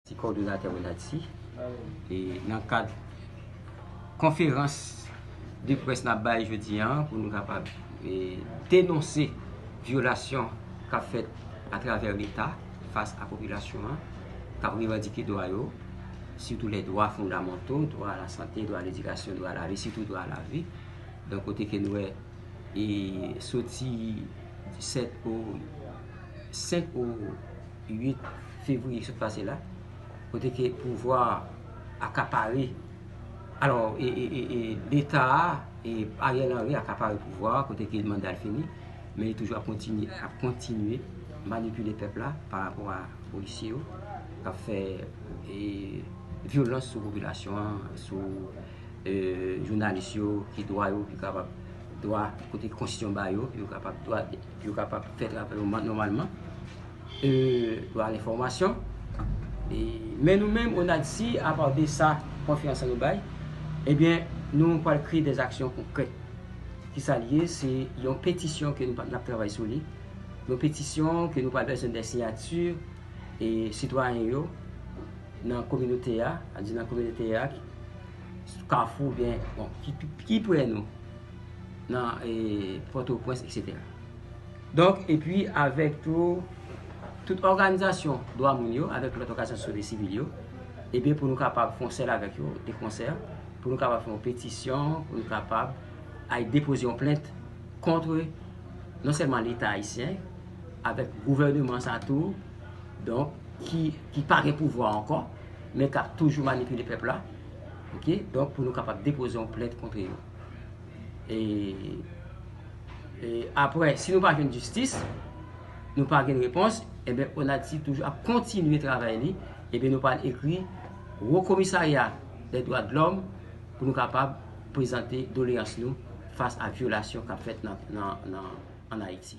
Ti kòdonatè Renatty e nan kad konferans de près nap bay jodi an pou nou kapab denonse vyolasyon kap fèt atravè leta fas a popilasyon an kap revandike dwa yo sitou lè dwa fondamanto, dwa a la sante, dwa a ledikasyon, dwa a la vi, sitou dwa a la vi nan kote ke nou wè e soti 7 o 5 o. 8 fevriye ki sot pase la, kote ke pouvwa a akapare, alò, e leta a, e Ariel Henry akapare pouvwa a, kote ke manda l fini, men li toujou ap kontinye manipile pèp la pa rapò a polisye yo, k ap fè vyolans sou popilasyon an, sou jounalis yo, ki dwa yo, ki kapab, dwa kote konstitisyon ba yo, yo kapab dwa. Yo kapab fè travay yo nòmalman, yo al enfòmasyon. Men nou menm ONADH si apa de sa konfyans sa nou bay, ebyen nou pral kreye dè aksyon konkrè. Ki sa l ye? Se yon petisyon ke nou ap travay sou li. Yon petisyon ke nou pral bezwen dè siyati e sitwayen yo nan kominote a, nan kominote a, kafou oubyen ki pre nou. nan Pòtoprens etc. Donk epi avèk tou tout òganizasyon dwa moun yo avèk lòt òganizasyon sosyete sivil yo ebyen pou nou kapab fon sèl avèk yo de konsè pou nou kapab fè yon petisyon pou nou kapab al depoze yon plent kontre non sèlman leta ayisyen avèk gouvèneman sa tou donk ki pa gen pouvwa ankò men kap toujou manipile pèp la ok donk pou nou kapab depoze yon plent kontre yo. E apre, si nou pa jwenn jistis, nou pa gen repons, ebe eh Onatsi toujou ap kontinye travay li, ebe eh nou pa ekri Wo Komisarya de Dwa de Lòm pou nou kapab prezante doleyans nou fas a vyolasyon kap fèt nan Ayiti.